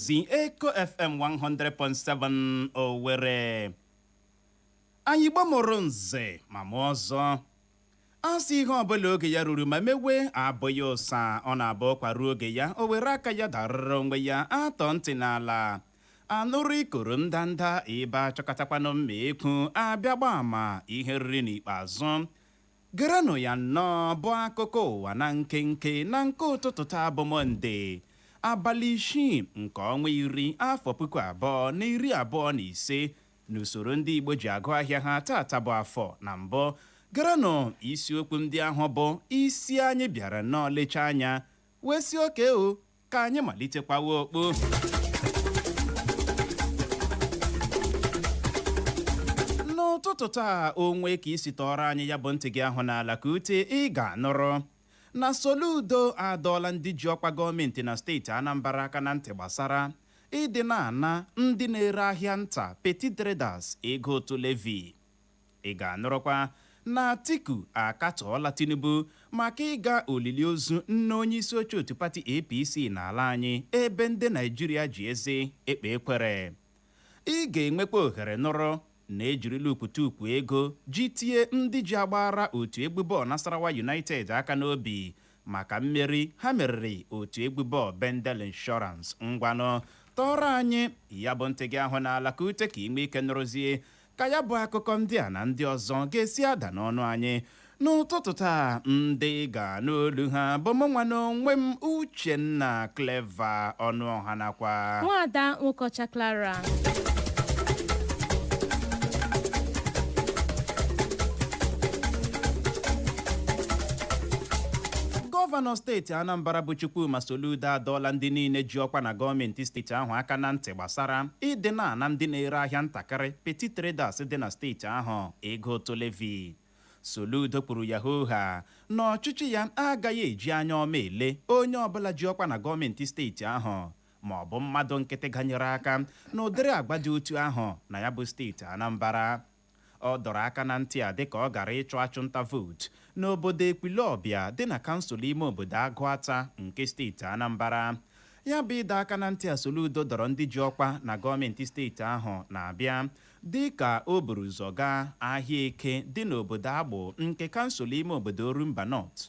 si Eko FM 100.7 Owerri anyị Igbo mụrụ nze ma mụọ ọzọ a sị ihe ọbụla oge ya ruru ma mewe abụghị ụsa ọ na-abụ ụkwa ruo oge ya o were aka ya darịrị onwe ya a tọọ ntị n'ala a nụrụ ikoro ndanda ebe a chọkatakwanụ mma ekwu a bịa gbaa ama ihe e riri n'ikpeazụ Gerenụ ya nnọọ bụ akụkọ ụwa na nkenke na nke ụtụtụ taa bụ Mọnde, abalị isii nke ọnwa iri afọ puku abụọ na iri abụọ na ise n'usoro ndị Igbo ji agụ ahịa ha taata bụ Afọ. Na mbụ, gerenụ isiokwu ndị ahụ bụ isi anyị bịara nnọọ lechaa anya wee sị okay o ka anyị malitekwawa okwu n'ụtụtụ taa o nwee ka i si tọọrọ anyị ya bụ ntị gị ahụ n'ala ka ute ị ga-anụrụ na Soludo adọọla ndị ji ọkwa gọọmenti na steeti Anambra aka na ntị gbasara ịdị na-ana ndị na-ere ahịa nta petty traders ego ụtụ levy Ị ga-anụrụkwa na Atiku akatọọla Tinubu maka ịga olili ozu nne onyeisi oche otu pati APC n'ala anyị ebe ndị Naịjirịa ji eze ekpe ekwere. Ị ga-enwekwa ohere nụrụ na e jirila okpotokpo ego ji tie ndị ji agbaara otu egwu bọọlụ Nasarawa United aka n'obi maka mmeri ha meriri otu egwu bọọlụ Bendel Insurance. Ngwanụ, tọọrọ anyị ya bụ ntị gị ahụ n'ala ka ute ka ị nwee ike nụrụzie Ka ya bụ akụkọ ndị a na ndị ọzọ ga-esi ada n'ọnụ anyị n'ụtụtụ taa, ndị ị ga-anụ olu ha bụ mụnwa n'onwe m Uchenna Clever Ọnụọha nakwa Nwaada Nwokocha Clara. Gọvanọ steeti Anambra bụ Chukwuma Soludo adọọla ndị niile ji ọkwa na gọọmenti steeti ahụ aka na ntị gbasara ịdị na-ana ndị na-ere ahịa ntakịrị, petty traders, dị na steeti ahụ ego ụtụ levy. Soludo kwuru ya hoo haa na ọchịchị ya agaghị eji anya ọma ele onye ọbụla ji ọkwa na gọọmentị steeti ahụ ma ọ bụ mmadụ nkịtị ganyere aka n'ụdịrị agwa dị otu ahụ na ya bụ steeti Anambra. Ọ dọrọ aka na ntị a dịka ọ gara ịchụ achụnta vootu n'obodo Ekwulọbịa dị na kansụl ime obodo Agụata nke steeti Anambara. Ya bụ ịdọ aka na ntị a Soludo dọrọ ndị ji ọkwa na gọọmenti steeti ahụ na-abịa dịka o buru ụzọ gaa ahịa Eke dị n'obodo Awgbu nke kansụl ime obodo Orumba North.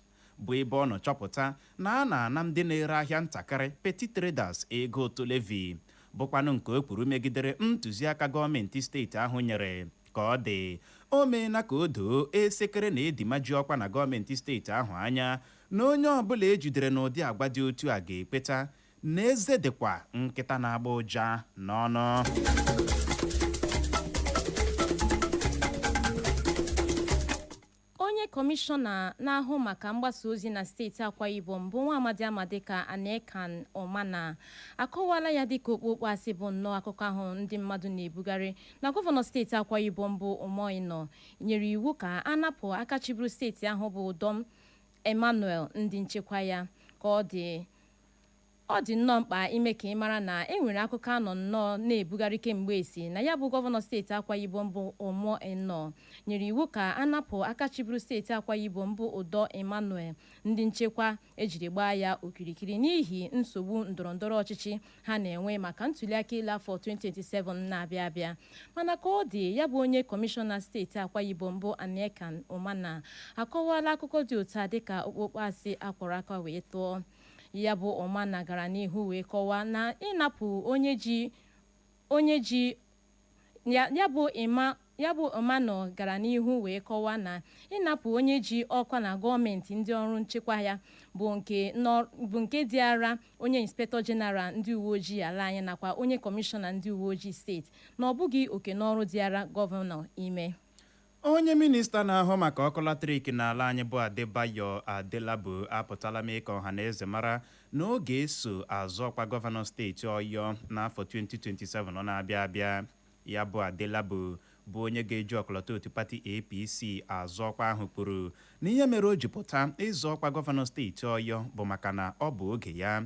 bụ ebe ọ nọ chọpụta na a na-ana ndị na-ere ahịa ntakịrị petty traders ego ụtụ levy bụkwanụ nke o kwuru megidere ntụziaka gọọmenti steeti ahụ nyere ka ọ dị o meela ka o doo esekere na edima ji ọkwa na gọọmenti steeti ahụ anya na onye ọbụla e jidere n'ụdị agwa dị otu a ga-ekweta na eze dịkwa nkịta na-agba ụja n'ọnụ Onye kọmishọna na-ahụ maka mgbasa ozi na steeti Akwa Ibom bụ nwaamadị a ma dịka Aniekan Umana akọwaala ya dịka okpookpo asị bụ nnọọ akụkọ ahụ ndị mmadụ na-ebugharị na gọvanọ steeti Akwa Ibom bụ Umo Eno nyere iwu ka a napụ aka chịburu steeti ahụ bụ Udom Emmanuel ndị nchekwa ya ka ọ dị Ọ dị nnọọ mkpa ime ka ị mara na e nwere akụkọ a nọ nnọọ na-ebugharị kemgbe sị na ya bụ gọvanọ steeti Akwa Ibom bụ Umo Eno nyere iwu ka a napụ aka chịburu steeti Akwa Ibom bụ Udom Emmanuel ndị nchekwa e jiri gbaa ya okirikiri n'ihi nsogbu ndọrọndọrọ ọchịchị ha na-enwe maka ntuliaka elu afọ 2027 na-abịa abịa. Mana ka ọ dị, ya bụ onye kọmishọna steeti Akwa Ibom bụ Aniekan Umana akọwaala akụkọ dị otu a dịka okpokpo asị a kwọrọ aka wee tụọ. Ya bụ Umana gara n'ihu wee kọwaa na ịnapụ onye ji onye ji ya ya bụ ịma ya bụ Umana gara n'ihu wee kọwaa na ịnapụ onye ji ọkwa na gọọmenti ndị ọrụ nchekwa ya bụ nke nọ bụ nke dịara onye Inspector General ndị uwe ojii ala anyị nakwa onye Kọmishọna ndị uwe ojii steeti na ọ bụghị oke na ọrụ dịara gọvanọ ime. Onye minista na-ahụ maka ọkụ latrik n'ala anyị bụ Adebayo Adelabu apụtala mee ka ọhanaeze mara na ọ ga-eso azọ ọkwa gọvanọ steeti Ọyọ n'afọ 2027 na-abịa abịa. Ya bụ Adelabu bụ onye ga-eji ọkọlọtọ otu pati APC azọ ọkwa ahụ kwuru na ihe mere o ji pụta ịzọ ọkwa gọvanọ steeti Ọyọ bụ maka na ọ bụ oge ya.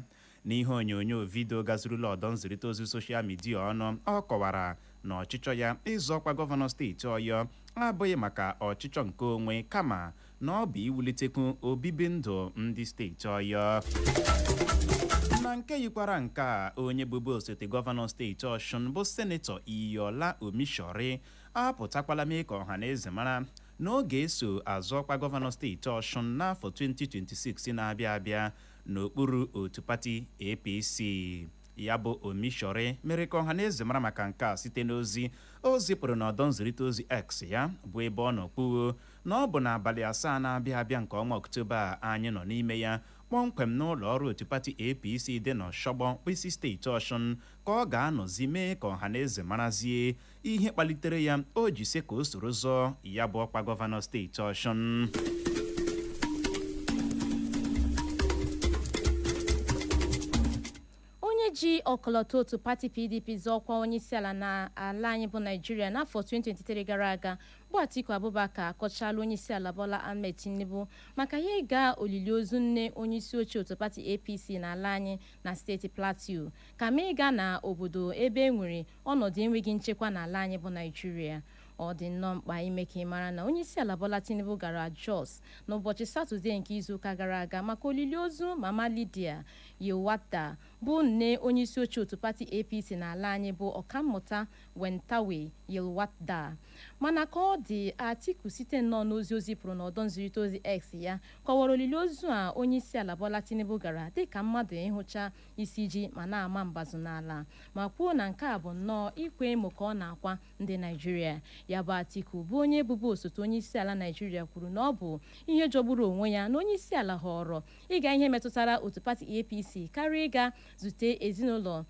N'ihe onyonyo vidio gazurula ọdọ nzirịta ozi soshal midia ọnụ, ọ kọwara na ọchịchọ ya ịzọ ọkwa gọvanọ steeti Ọyọ abụghị maka ọchịchọ nke onwe kama na ọ bụ iwulitekwu obibi ndụ ndị steeti Ọyọ. Na nke yikwara nke a, onye bụbu osote gọvanọ steeti Ọshụn bụ Senetọ Iyiola Omisore apụtakwala mee ka ọha na eze mara na ọ ga-eso azọ ọkwa gọvanọ steeti Ọshụn n'afọ 2026 na-abịa abịa n'okpuru otu pati APC. Ya bụ Omisore mere ka ọhaneze mara maka nke a site n'ozi o zipụrụ n'ọdọ nzirịta ozi X ya bụ ebe ọ nọ kwuo na ọ bụ n'abalị asaa na-abịa abịa nke ọnwa Ọktoba a anyị nọ n'ime ya kpọmkwem n'ụlọ ọrụ otu pati APC dị n'Ọshogbo okpu isi steeti Ọshụn ka ọ ga-anọzi mee ka ọhaneze marazie ihe kpalitere ya o ji sị ka o soro zọọ ya bụ ọkwa gọvanọ steeti ọshụn onye ji ọkọlọtọ otu pati pdp zọọ ọkwa onyeisiala n'ala anyị bụ naịjirịa n'afọ 2023 gara aga bụ atiku abubakar akọchala onyeisiala bola ahmed tinubu maka ya ịga olili ozu nne onyeisi oche otu pati apc n'ala anyị na steeti plateau kama ịga na obodo ebe e nwere Ọnọdụ enweghị nchekwa n'ala anyị bụ Naịjirịa. Ọ dị nnọọ mkpa ime ka ị mara na Onyeisiala Bola Tinubu gara Jos n'ụbọchị Satọde nke izuụka gara aga maka olili ozu Mama Lydia Yilwatda bụ nne onyeisioche otu pati APC n'ala anyị bụ Ọkammụta Nentawe Yilwatda. Mana ka ọ dị, Atiku site nnọọ n'ozi o zipụrụ n'ọdọ nzirịta ozi X ya kọwara olili ozu a Onyeisiala Bola Tinubu gara dịka mmadụ ịhụcha isi ji ma na-ama mbazụ n'ala ma kwuo na nke a bụ nnọọ ịkwa emo ka ọ na-akwa ndị Naịjirịa. Ya bụ Atiku bụ onye bụbu osote onyeisiala Naịjirịa kwuru na ọ bụ ihe jọgburu onwe ya na onyeisiala họọrọ ịga ihe metụtara otu pati APC karịa ịga zute ezinụlọ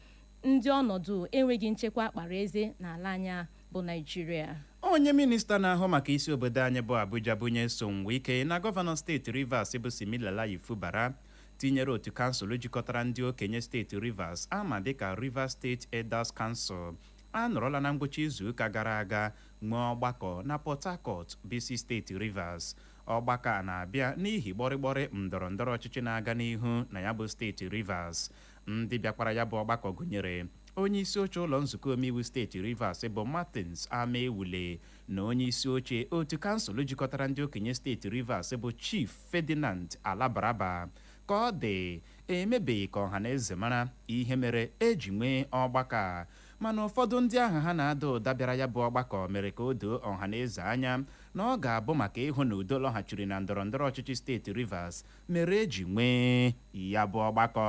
ndị ọnọdụ enweghị nchekwa kpara eze n'ala anyị bụ Naịjirịa. Onye minista na-ahụ maka isi obodo anyị bụ Abuja bụ Nyesom Wike na gọvanọ steeti Rivers bụ Siminalayi Fubara tinyere otu kansụl jikọtara ndị okenye steeti Rivers a ma dịka Rivers State Elders Council anọrọla na ngwụcha izuụka gara aga nwee ọgbakọ na Port Harcourt bụ isi steeti Rivers. Ọgbakọ a na-abịa n'ihi gbọrịgbọrị ndọrọndọrọ ọchịchị na-aga n'ihu na ya bụ steeti Rivers. Ndị bịakwara ya bụ ọgbakọ gụnyere onye isi oche ụlọ nzukọ omeiwu steeti Rivers bụ Martins Amaewhule na onye isi oche otu kansụl jikọtara ndị okenye steeti Rivers bụ Chief Ferdinand Alabraba. Ka ọ dị, emebeghị ka ọhaneze mara ihe mere e ji nwee ọgbakọ a. Mana ụfọdụ ndị aha ha na-ada ụda bịara ya bụ ọgbakọ mere ka o doo ọhaneze anya na ọ ga-abụ maka ịhụ na udo lọghachiri na ndọrọndọrọ ọchịchị steeti Rivers mere e ji nwee ya bụ ọgbakọ.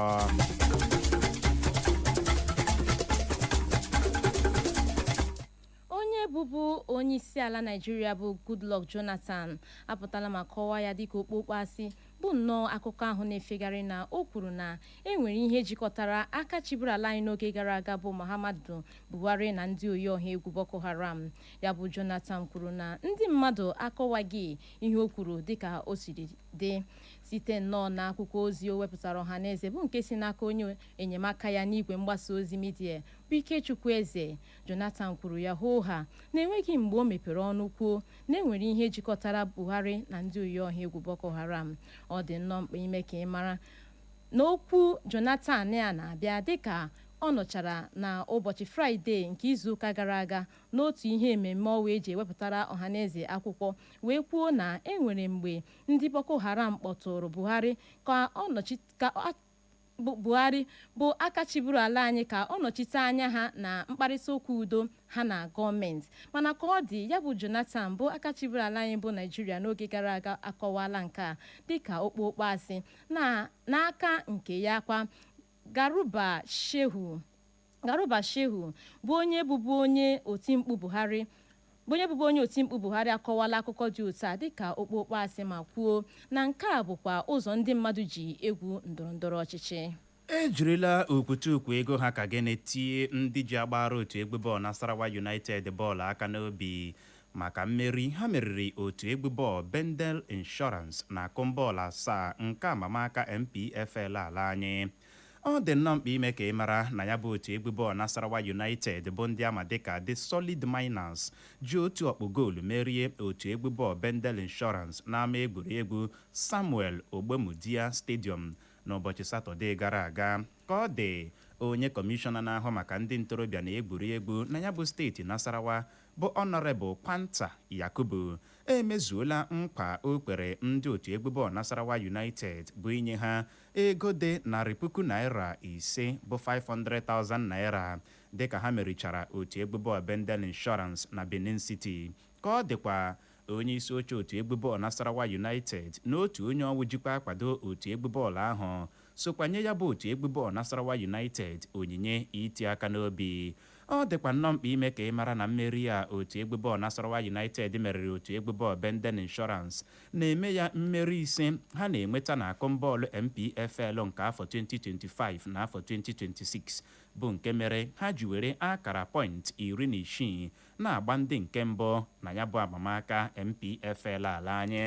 Onye bụbu onyeisiala Naịjirịa bụ Goodluck Jonathan apụtala ma kọwaa ya dịka okpokpo asị bụ nnọọ akụkọ ahụ na-efegharị na o kwuru na e nwere ihe jikọtara aka chịburu ala anyị n'oge gara aga bụ Muhammadu Buhari na ndị oyi ọha egwu Boko Haram. Ya bụ Jonathan kwuru na ndị mmadụ akọwaghị ihe o kwuru dịka o siri dị. Site nnọọ na akwụkwọ ozi o wepụtara ọhaneze bụ nke si n'aka onye enyemaka ya n'igwe mgbasa ozi midia bụ Ikechukwu Eze, Jonathan kwuru ya hoo haa na enweghị mgbe o mepere ọnụ kwuo na enwere ihe jikọtara Buhari na ndị oyiọha egwu Boko Haram. Ọ dị nnọọ mkpa ime ka ị mara na okwu Jonathan a na-abịa dịka ọ nọchara na ụbọchị Fraịde nke izuụka gara aga n'otu ihe ememme ọwa eji ewepụtara ọhaneze akwụkwọ wee kwuo na enwere mgbe ndị Boko Haram kpọtụụrụ Buhari ka Buhari bụ aka chịburu ala anyị ka ọ nọchite anya ha na mkparịtaụka udo ha na gọọmenti. Mana ka ọ dị, ya bụ Jonathan bụ aka chịburu ala anyị bụ Naịjirịa n'oge gara aga akọwaala nke a dịka okpokpo asị. N'aka nke ya kwa, Garuba Shehu Garuba Shehu bụ onye bụbu onye otimkpu Buhari akọwala akụkọ dị otu a dịka okpokpo asị ma kwuo na nke a bụkwa ụzọ ndị mmadụ ji egwu ndọrọndọrọ ọchịchị. E jirila okwutukwu ego ha ka gịnị tie ndị ji agbaara otu egwu bọọlụ Nasarawa United bọọlụ aka n'obi maka mmeri ha meriri otu egwu bọọlụ Bendel Insurance na akụm bọọlụ asaa nke amamaka NPFL ala anyị. Ọ dị nnọọ mkpa ime ka ị mara na ya bụ otu egwu bọọlụ Nasarawa United bụ ndị ama dịka The Solid Miners ji otu ọkpụ goolu merie otu egwu bọọlụ Bendel Insurance n'ama egwuregwu Samuel Ogbemudia Stadium n'ụbọchị Satọdee gara aga. Ka ọ dị, onye kọmishọna na-ahụ maka ndị ntorobịa na egwuregwu na ya bụ steeti Nasarawa bụ Honourable Kwanta Yakubu emezuola nkwa o kwere ndị otu egwu bọọlụ Nasarawa United bụ inye ha ego dị narị puku naịra ise bụ 500,000 naịra dịka ha merichara otu egwu bọọlụ Bendel Insurance na Benin City. Ka ọ dịkwa, onye isi oche otu egwu bọọlụ Nasarawa United na otu onye ọwụ jikwa akwado otu egwu bọọlụ ahụ sokwa nye ya bụ otu egwu bọọlụ Nasarawa United onyinye iti aka n'obi. Ọ dịkwa nnọọ mkpa ime ka ị mara na mmeri a otu egwu bọọlụ Nasarawa United meriri otu egwu bọọlụ Bendel Insurance na-eme ya mmeri ise ha na-enweta n'akụm bọọlụ NPFL nke afọ 2025 na afọ 2026 bụ nke mere ha ji were akara pọịntị iri na isii na-agba ndị nke mbụ na ya bụ amamaka NPFL ala anyị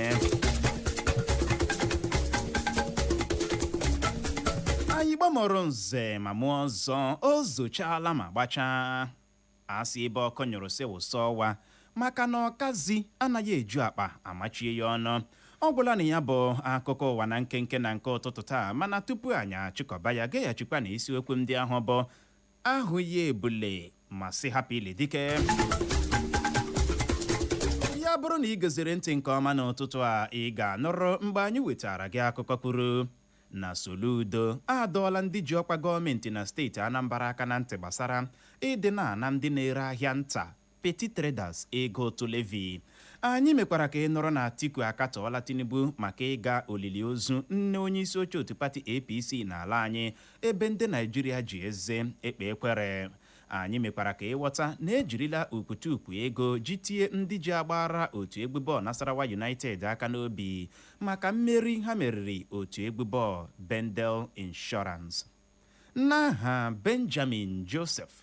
anyị Igbo mụrụ nze ma mụọ ọzọ o zochala ma gbachaa a sị ebe ọkụ nyụrụ sị wụsa ọwa maka na ọkazị anaghị eju akpa a machie ya ọnụ ọ gwụla na ya bụ akụkọ ụwa na nkenke na nke ụtụtụ taa mana tupu anyị achịkọba ya gaghachikwa na isiokwu ndị ahụ bụ ahụ ya ebule ma sị hapụ ile dike ya bụrụ na ị geziri ntị nke ọma n'ụtụtụ a ị ga-anụrụ mgbe anyị wetara gị akụkọ kwuru na Soludo adọọla ndị ji ọkwa gọọmenti na steeti Anambra aka na ntị gbasara ịdị na-ana ndị na-ere ahịa nta Petty Traders, ego ụtụ levy. Anyị mekwara ka ị nụrụ na Atiku akatọọla Tinubu maka ịga olili ozu nne onyeisi oche otu pati APC n'ala anyị ebe ndị Naịjirịa ji eze ekpe ekwere. Anyị mekwara ka ị ghọta na ejirila ukwutukwu ego ji tie ndị ji agbaara otu egwu bọọlụ Nasarawa United aka n'obi maka mmeri ha meriri otu egwu bọọlụ Bendel Insurance. N'aha Benjamin Joseph.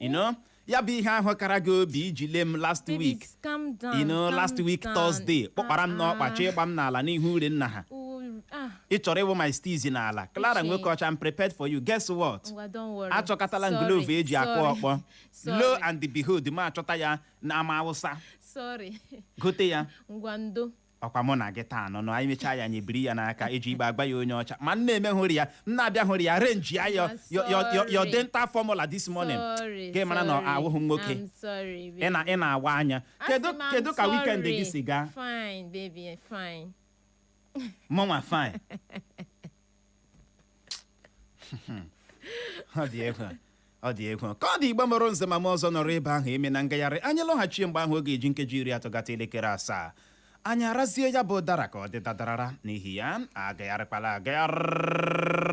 you know ya bụ ihe ahụ kara gị obi iji lee m last Baby, week calm down. you know calm last week down. Thursday kpọkpara m n'ọkpa Ah, chọọ ịgba m n'ala n'ihu ure nna ha oh, ah, ị chọrọ ịwụ my steez n'ala Clara Uche. Nwokeọcha I'm prepared for you guess what ngwa, don't worry. achọkatala m Sorry, glove eji akụ sorry, ọkpọ lo sorry, and behold mụ achọta ya n'ama Awụsa Sorry. gote ya ngwa ndo. Ọkwa mụ na gị taa nọ nọ, anyị mechaa ya anyị ebiri ya n'aka eji igbe agba ya onye ọcha. Ma m na-eme hụrụ ya, m na-abịa hụrụ ya, arrange ya your, your, your, your, your dental formula this morning. Gị mara na awụghị nwoke. Ị na ị na-awa anya. Kedu kedu ka weekend gị si gaa? Fine, baby, fine. Mụnwa fine. ọ dị egwu ọ dị egwu ka ọ dị Igbo mụrụ nze ma mụọ ọzọ nọrọ ebe ahụ emena ngagharị anyị lọghachie mgbe ahụ oge eji nkeji iri atọ gata elekere asaa anyị arazie ya bụ ụdara ka ọ dị dadarara n'ihi ya agagharịkwala agagharị